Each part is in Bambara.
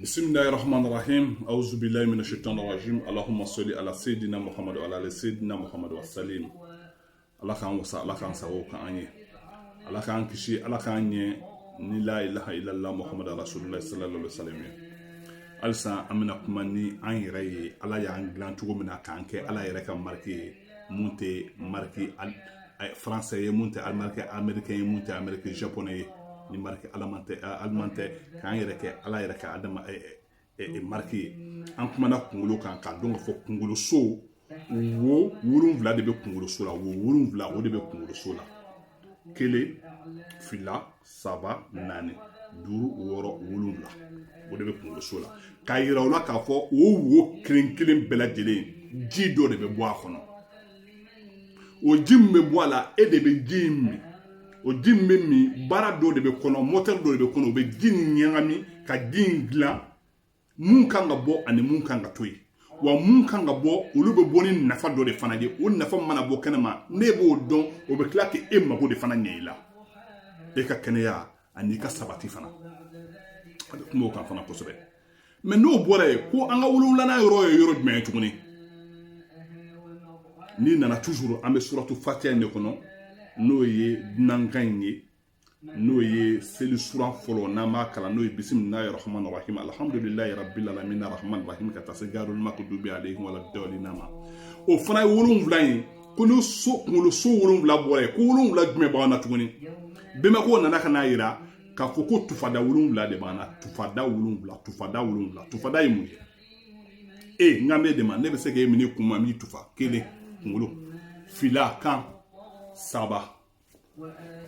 bisimilayi rahmani rahim awuzubilayi mina shaitan rajim alahuma soli ala seyidina muhammadu wa ala ali seyidina muhammadu wasalim ala k'an wasa ala k'an sago k'an ye ala k'an kisi ala k'an ɲɛ ni la ilaha illallah muhammadu rasulullah sallallahu alaihi wasallam ye halisa an bɛna kuma ni an yɛrɛ ye ala y'an dilan cogo min na k'an kɛ ala yɛrɛ ka mariki ye mun tɛ mariki faransɛ ye mun tɛ mariki amerikɛn ye mun tɛ amerikɛ japonɛ ye ni mariki aliman tɛ k'an yɛrɛ kɛ ala yɛrɛ ka adama mariki ye an kumana kunkolo kan k'a dɔn ka fɔ kunkolo so wo wolonwula de bɛ kunkolo so la wo wolonwula o de bɛ kunkolo so la kelen fila saba naani duuru wɔɔrɔ wolonwula o de bɛ kunkolo so la k'a yira o la k'a fɔ o wo kelen kelen bɛɛ lajɛlen ji dɔ de bɛ bɔ a kɔnɔ o ji min bɛ bɔ a la e de bɛ ji in min o ji min bɛ min baara dɔ de bɛ kɔnɔ mɔtɛri dɔ de bɛ kɔnɔ o bɛ ji in ɲagami ka ji in dilan mun kan ka bɔ ani mun kan ka to yen wa mun kan ka bɔ olu bɛ bɔ ni nafa dɔ de fana ye o nafa mana bɔ kɛnɛma ne b'o dɔn o bɛ tila k'e mago de fana ɲɛ i la e ka kɛnɛya ani i ka sabati fana a bɛ kuma o kan fana kosɛbɛ mais n'o bɔra yen ko an ka wolonwulanan yɔrɔ ye yɔrɔ jumɛn ye tuguni n'i nana toujours an bɛ suratu fatiya in de kɔnɔ n'o ye dunankan in ye n'o ye seli sura fɔlɔ n'an b'a kalan n'o ye bisimilayi rahmani rahim alhamdulilayi rabbil alamin rahmani rahim ka taa se gaarul makudubi alayhim wala dawlina ma o fana ye wolonwula ye ko ni so kunkolo so wolonwula bɔra yen ko wolonwula jumɛn b'an na tuguni bɛnbako nana ka n'a yira k'a fɔ ko tufada wolonwula de b'an na tufada wolonwula tufada wolonwula tufada ye mun ye e n ka bɛ de ma ne bɛ se k'e minɛ kun ma min tufa kelen kunkolo fila kan saba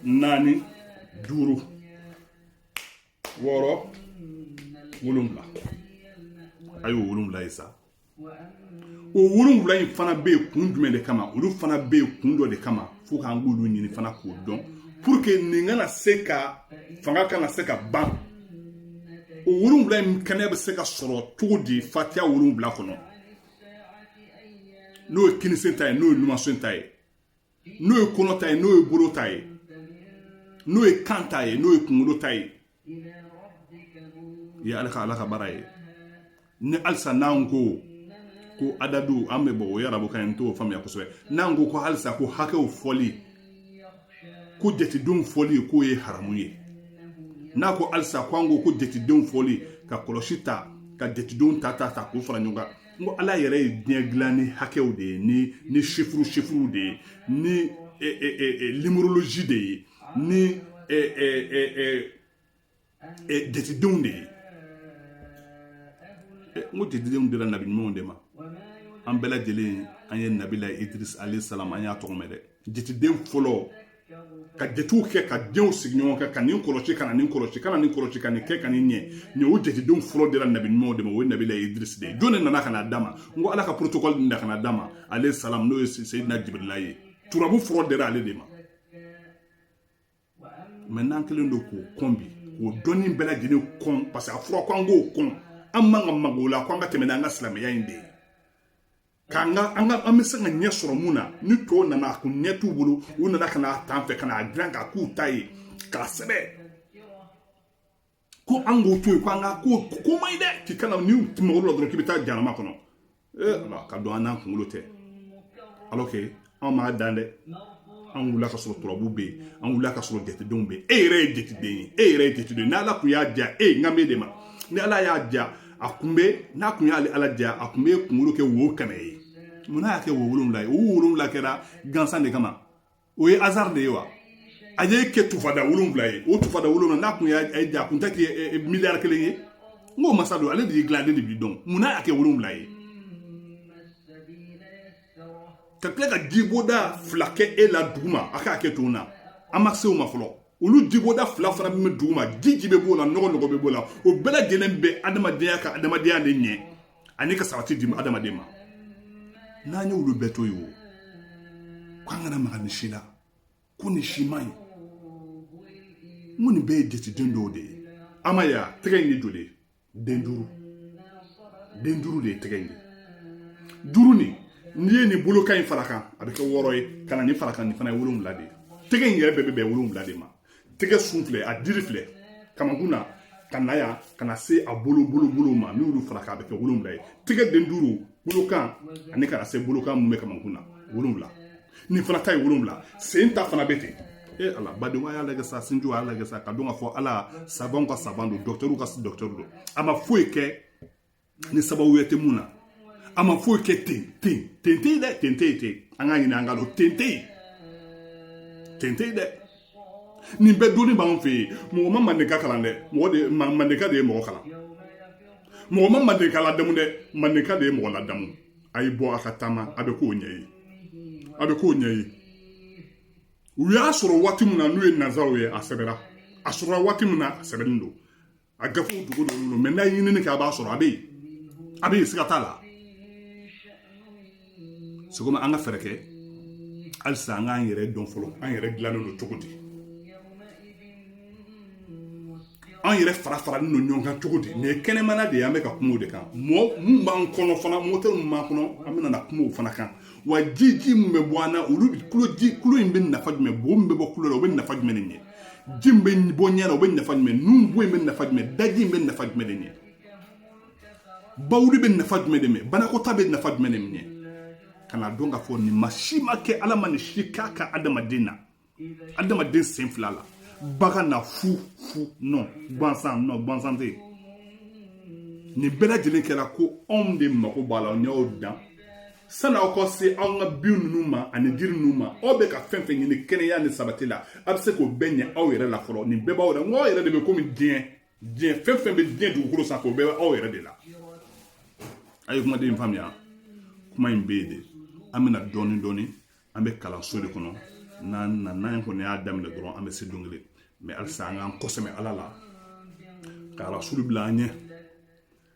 naani duuru wɔɔrɔ wolonwula a y'o wolonwula ye sa o wolonwula in fana bɛ yen kun jumɛn de kama olu fana bɛ yen kun dɔ de kama fo k'an k'olu ɲini fana k'o dɔn pour que nin kana se ka fanga kana se ka ban o wolonwula in kɛnɛ bɛ se ka sɔrɔ cogo di fatiya wolonwula kɔnɔ n'o ye kinisen ta ye n'o ye numansen ta ye n'o ye kɔnɔ ta ye n'o ye bolo ta ye n'o ye kan ta ye n'o ye kunkolo ta ye ye ala ka ala ka baara ye ni halisa n'an ko ko adadu an bɛ bɔ o y'arabukan n t'o faamuya kosɛbɛ n'an ko ko halisa ko hakɛw fɔli ko jatedenw fɔli k'o ye haramu ye n'a ko halisa ko an ko ko jatedenw fɔli ka kɔlɔsi ta ka jatedenw ta ta ta k'u fara ɲɔgɔn kan n ko ala yɛrɛ ye diɲɛ dilan ni hakɛw de ye ni ni chiffre chiffre de ye ni numérologie de ye ni jatidenw de ye n ko jatidenw dira nabi ɲuman de ma an bɛɛ lajɛlen an ye nabila idris alayhi salam an y'a tɔgɔ mɛn dɛ jateden fɔlɔ ka jatew kɛ ka denw sigi ɲɔgɔn kan ka nin kɔlɔsi ka na nin kɔlɔsi ka na nin kɔlɔsi ka nin kɛ ka nin ɲɛ nin o jatedenw fɔlɔ dira nabi ɲuman de ma o ye nabila idirisi de ye jɔn de nana ka na d'a ma n ko ala ka protocole nin da ka na d'a ma alayhi salam n'o ye seyidina jibirila ye turabu fɔlɔ dira ale de ma mais n'an kɛlen don k'o kɔn bi k'o dɔnni bɛɛ lajɛlen kɔn parce que a fɔra ko an k'o kɔn an man ka mag'o la ko an ka tɛmɛ n'an ka silamɛya in de ye k'an ka an ka an bɛ se ka ɲɛ sɔrɔ mun na ni tɔw nana a kun ɲɛ t'u bolo u nana ka n'a t'an fɛ ka n'a dilan k'a k'u ta ye k'a sɛbɛn ko an k'o to yen ko an ka ko k'o man ɲi dɛ k'i kana n'i mag'o la dɔrɔn k'i bɛ taa jahanama kɔnɔ ee ala ka dɔn an n'an kunkolo tɛ alors que an m'a dan dɛ an wulila ka sɔrɔ turabu bɛ yen an wulila ka sɔrɔ jatedenw bɛ yen e yɛrɛ ye jateden ye e yɛrɛ ye jateden ye n'ala kun y'a diya e ye n kan b'e de ma ni ala y'a diya a kun bɛ n'a kun y'ale ala diya a kun bɛ kunkolo kɛ wo kɛmɛ ye mun y'a kɛ wo wolonwula ye wo wolonwula kɛra gansan de kama o ye hasard de ye wa a y'e kɛ tufada wolonwula ye o tufada wolonwula n'a kun y'a diya a kun tɛ kɛ miliyari kelen ye n k'o masa don ale de y'i dilan ale de b'i dɔn mun n'a y'a kɛ wolonwula ye ka tila ka jiboda fila kɛ e la duguma a k'a kɛ to na an ma se o ma fɔlɔ olu jiboda fila fana min bɛ duguma ji ji bɛ b'o la nɔgɔ nɔgɔ bɛ b'o la o bɛɛ lajɛlen bɛ adamadenya ka adamadenya de ɲɛ ani ka sabati di adamaden ma n'an ye olu bɛɛ to yen o k'an kana maga nin si la ko nin si man ɲi n ko nin bɛɛ ye jateden dɔw de ye an m'a ye tɛgɛ in den joli ye den duuru den duuru de ye tɛgɛ in ye duuru nin n'i ye nin bolokan in fara kan a bɛ kɛ wɔɔrɔ ye ka na nin fara kan nin fana ye wolonwula de ye tɛgɛ in yɛrɛ bɛɛ bɛ bɛn wolonwula de ma tɛgɛ sun filɛ a diri filɛ kamankun na ka na yan ka na se a bolo bolo bolo ma n'i y'olu fara k'a bɛ kɛ wolonwula ye tɛgɛ den duuru bolokan ani ka na se bolokan mun bɛ kamankun na wolonwula nin fana ta ye wolonwula sen ta fana bɛ ten e ala badenw a y'a lajɛ sa sinjiw a y'a lajɛ sa k'a dɔn k'a fɔ ala savantw ka savant don docteurw ka docteur don a ma foyi kɛ ni sababu wɛrɛ tɛ mun na a ma foyi kɛ ten ten ten tɛ yen dɛ ten tɛ yen ten an k'a ɲini an k'a dɔn ten tɛ yen ten tɛ yen dɛ nin bɛɛ dɔnni b'an fɛ yen mɔgɔ ma mandenka kalan dɛ mɔgɔ de mandenka de ye mɔgɔ kalan mɔgɔ ma mandenka ladamu dɛ mandenka de ye mɔgɔ ladamu a y'i bɔ a ka taama a bɛ koɲɛ ye a bɛ koɲɛ ye u y'a sɔrɔ waati min na n'u ye nanzaraw ye a sɛbɛra a sɔrɔla waati min na a sɛbɛnnen don a gafew dogolen don mɛ n'a ye ɲinini kɛ a b'a sɔrɔ a bɛ yen a bɛ yen siga t'a la c'est que an ka fɛɛrɛ kɛ halisa an k'an yɛrɛ dɔn fɔlɔ an yɛrɛ dilannen don cogo di an yɛrɛ fara faralen don ɲɔgɔn kan cogo di nin ye kɛnɛmana de ye an bɛ ka kuma o de kan mɔgɔ mun b'an kɔnɔ fana mɔtɛri mun b'an kɔnɔ an bɛna na kuma o fana kan wa ji ji mun bɛ bɔ an na olu kulo ji kulo in bɛ nafa jumɛn bo min bɛ bɔ kulo la o bɛ nafa jumɛn de ɲɛ ji min bɛ bɔ ɲɛ na o bɛ nafa jumɛn nun bo in bɛ nafa jumɛn daji in bɛ nafa jumɛn de ɲɛ bawuli bɛ nafa jumɛn de ɲɛ banakɔta bɛ nafa jumɛn de ɲɛ kana dɔn k'a fɔ nin ma si ma kɛ ala ma nin si k'a ka adamaden na adamaden sen fila la bagan na fu fu non gansan non gansan tɛ yen nin bɛɛ lajɛlen kɛra ko anw de mako b'a la n'aw dan sani aw ka se an ka bin ninnu ma ani jiri ninnu ma aw bɛ ka fɛn fɛn ɲini kɛnɛya ni sabati la a bɛ se k'o bɛɛ ɲɛ aw yɛrɛ la fɔlɔ nin bɛɛ b'aw yɛrɛ n ko aw yɛrɛ de bɛ komi diɲɛ diɲɛ fɛn fɛn bɛ diɲɛ dugukolo sanfɛ o bɛɛ bɛ aw yɛrɛ de la a ye kumaden in faamuya kuma in bɛ yen de an bɛna dɔɔnin dɔɔnin an bɛ kalanso de kɔnɔ n'an na n'an kɔni y'a daminɛ dɔrɔn an bɛ se don kelen mɛ halisa an k'an kɔsɛmɛ ala la ka rasulu bila an ɲɛ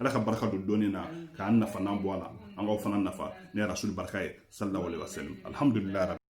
ala ka barika don dɔnni na k'an nafa n'an bɔ a la an k'aw fana nafa ni rasulu barika ye sallallahu alaihi wa sallam alhamdulilayi